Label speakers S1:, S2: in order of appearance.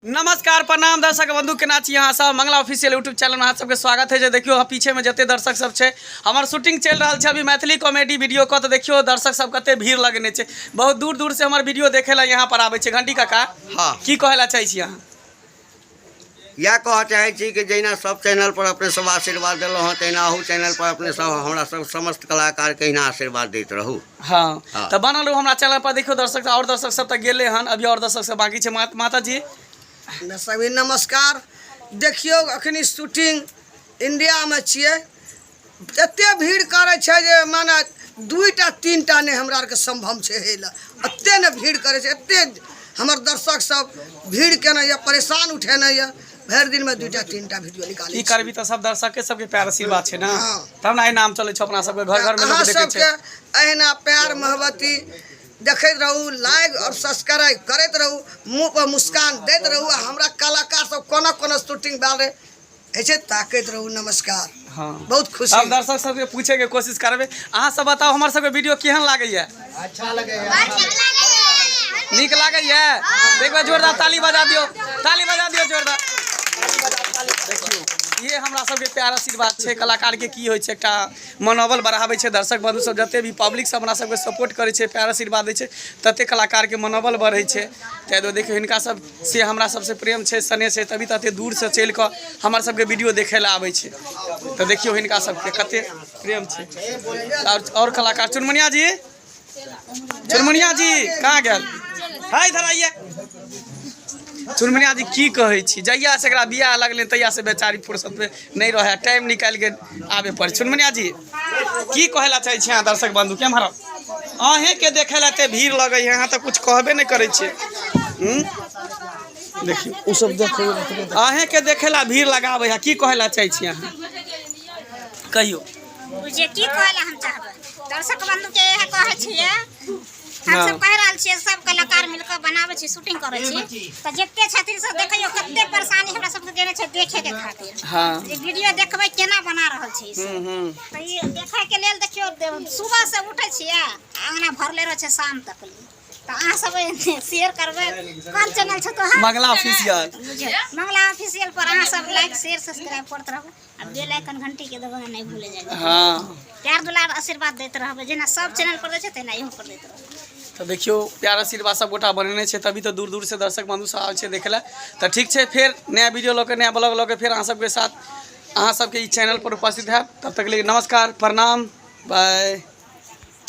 S1: नमस्कार प्रणाम दर्शक बंधु केना छी अहाँ सब मंगला ऑफिशियल यूट्यूब चैनल में अहाँ सबके स्वागत है जे देखियो अहाँ पीछे में जते दर्शक सब छै हमर शूटिंग चल रहल छै अभी मैथिली कॉमेडी वीडियो को तो देखियो दर्शक सब कते भीड़ लगने छै बहुत दूर दूर से हमर वीडियो देखे ला यहाँ पर आबे छै घंटी काका हाँ की कहे ला चाहे छी अहाँ
S2: इएह कहऽ चाहै छी कि जहिना सब चैनल पर अपने सब आशीर्वाद देलहुँ हँ तहिना अहू चैनल पर अपने सब हमरा सब समस्त कलाकार के अहिना आशीर्वाद दैत रहू हँ हँ। तऽ बनल
S1: रहू हमरा चैनल पर देखियौ दर्शक आओर दर्शक सब तऽ गेले हन अभी आओर दर्शक सब बाकी छै मा- माता जी सभी
S3: नमस्कार देखियौ अखनी शूटिंग इंडियामे छियै एते भीड़ करै छै जे माने दुइटा तीनटा नहि हमरा आरके सम्भव छै हे लए एते ने भीड़ करै छै एते हमर दर्शक सब भीड़ केने यऽ परेशान उठेने यऽ भरि दिन में दूटा तीन टा वीडियो निकाले की करबी तो सब दर्शक के
S1: सबके प्यार आशीर्वाद छे ना हाँ। तब ना नाम चले छे अपना सबके घर घर में लोग देखे छे अहिना प्यार
S3: मोहब्बती देखते रहू लाइक और सब्सक्राइब करते रहू मुंह पर मुस्कान देते रहू हमरा कलाकार सब कोना कोना शूटिंग बारे ऐसे ताकत रहू नमस्कार हँ बहुत खुशी। हम दर्शक सबके पूछे
S1: के कोशिश करबे अहाँ सब बताओ हमर सबके वीडियो केहन लागैया अच्छा
S3: लगे
S1: नीक लागैया एक बार जोरदार ताली बजा दियो ताली बजा दियो जोरदार देखियो ये हमरा सबके प्यार आशीर्वाद छै कलाकार के की होइ छै एकटा मनोबल बढ़ाबै छै दर्शक बंधु सब जते भी पब्लिक सब हमरा सबके सपोर्ट करै छै प्यार आशीर्वाद दै छै तते कलाकार के मनोबल बढ़ै छै ताहि दुआरे देखियो हिनका सब से हमरा सबसँ प्रेम छै स्नेह छै तभी तऽ एते दूरसँ चलि कऽ हमर सबके वीडियो देखै लए आबै छै तऽ देखियौ हिनका सबके कते प्रेम छै आओर आओर कलाकार चुनमुनिया जी चुनमुनिया जी कहाँ गेल है इधर आइए चुनमुनिया जी की कहै छी जहिया से एकरा बियाह लगलै तहिया से बेचारी फुर्सत में नहि रहै टाइम निकालि कऽ आबे पड़ै चुनमुनिया जी की कहे ला चाहे छियै अहाँ दर्शक बंधु के हमारा अहें के देखे ला ते भीड़ लगे है अहाँ तो कुछ कहबे नहीं करे छियै हम्म? देखियो उ सब देखो अहें के देखे ला भीड़ लगावे है की कहे ला चाहे छियै अहाँ कहियो जे
S4: की कहला हम चाहबै दर्शक बंधु के इहे कहै छियै हम सब कह रहल छियै सब कलाकार मिल के बनाबै छी शूटिंग करै छी तऽ जते छथिन सब देखैयो कते परेशानी हमरा सबके देने छै देखे के खातिर हाँ जे वीडियो देखबै केना बना रहल छी से। हम्म, हम्म। तऽ ई देखै के लेल देखियो दे- सुबह से उठै छियै आंगना भरले रहै छै शाम तक ले। तऽ अहाँ सब शेयर करबै कोन चैनल छै तोहर मंगला ऑफिशियल
S1: बुझियौ मंगला
S4: ऑफिशियल पर अहाँ सब लाइक शेयर सब्सक्राइब करत रहू आ बेल आइकन घंटी के दबाना नहीं भूले जाए हाँ प्यार दुलार आशीर्वाद देते रहबे जेना सब चैनल पर दे छै तेना इहो पर देते रहबे तो देखियो
S1: प्यार आशीर्वाद सब गोटा बनेने छै तभी तो दूर दूर से दर्शक बंधु सब आवे छै देखे ला तो ठीक छै फिर नया वीडियो लऽ के नया ब्लॉग लऽ के फिर अहाँ सबके साथ अहाँ सबके ई चैनल पर उपस्थित है तब तक के लिए नमस्कार प्रणाम बाय